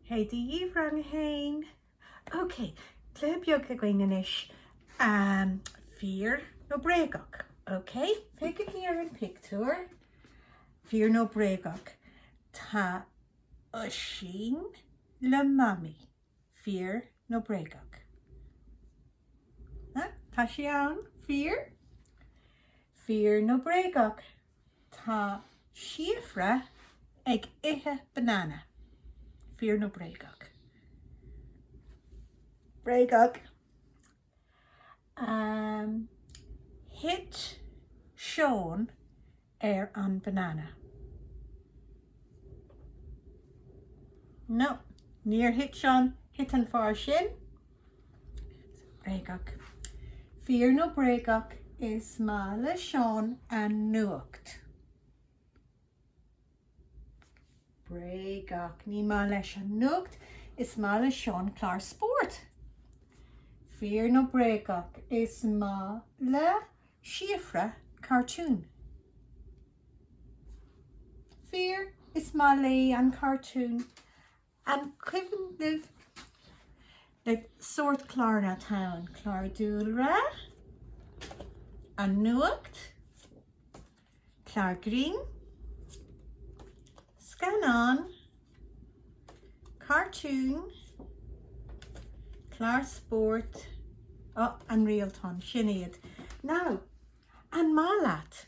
Hé, dia dhaoibh rang a haon. Ok, cluiche beag againn anois. Fíor nó bréagach, ok? Féachaigí ar an pictiúr. Fíor nó bréagach, tá Oisín le Mamaí. Fíor nó bréagach? Tá sí ann. Fíor? Fíor nó bréagach, Tá Síofra ag ithe banana. Fíor nó bréagach? Bréagach. Thit Seán ar an banana. No. Níor thit Seán, thit an fear sin. Bréagach. Fíor nó bréagach, is maith le Seán an nuacht. Bréagach. Ní maith leis an nuacht, is maith le Seán clár spóirt. Fíor nó bréagach, is maith le Síofra cartún. Fíor, is maith léi an cartún. An cuimhin libh na sórt cláranna atá ann, clár dúlra, an nuacht, clár grinn, scannán, cartún, clár spóirt, oh, an réaltán, sin iad. Now, an maith leat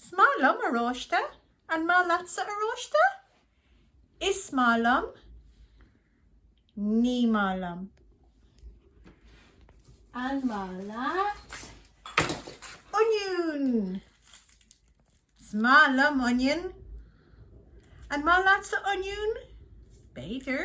'S maith liom oráiste, an maith leatsa oráiste? Is maith liom, Ní maith liom. An maith leat oinniún? 'S maith liom oinniún, an maith leatsa oinniún? B'fhéidir.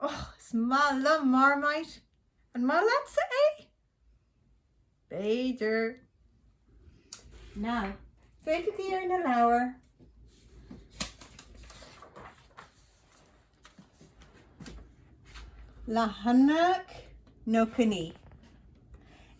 Och, is maith liom Marmite. An maith leatsa é? B'fhéidir. Now, féachaigí ar na leabhair. Leathanach nócha naoi.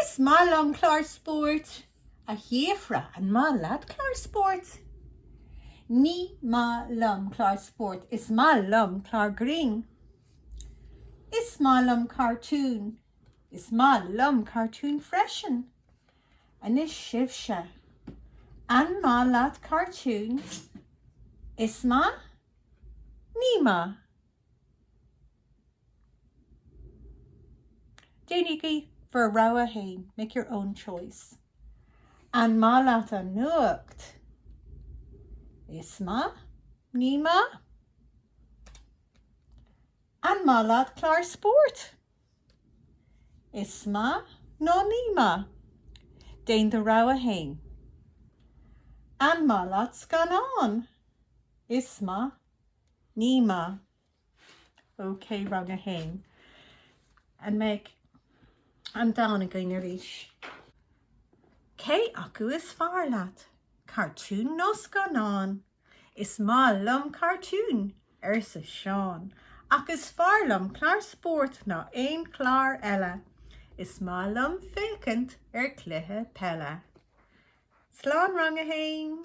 Is maith liom clár spóirt. A Shíofra, an maith leat clár spóirt? Ní maith liom clár spóirt, is maith liom clár grinn. Is maith liom cartúin, is maith liom cartún freisin. Anois sibhse, an maith leat cartún? Is maith? Ní maith? Déanaigí bhur rogha fhéin, make your own choice. An maith leat an nuacht? Is maith, Ní maith? An maith leat clár spóirt? Is maith nó ní maith? Déan do rogha fhéin. An maith leat scannáin? Is maith, Ní maith. OK, rang a haon. An mbeidh an dán againn arís? Cé acu is fearr leat, cartún nó scannán? Is maith liom cartúin, arsa Seán, ach is fearr liom clár spóirt ná aon chlár eile. Is maith liom féachaint ar chluiche peile. Slán, rang a haon!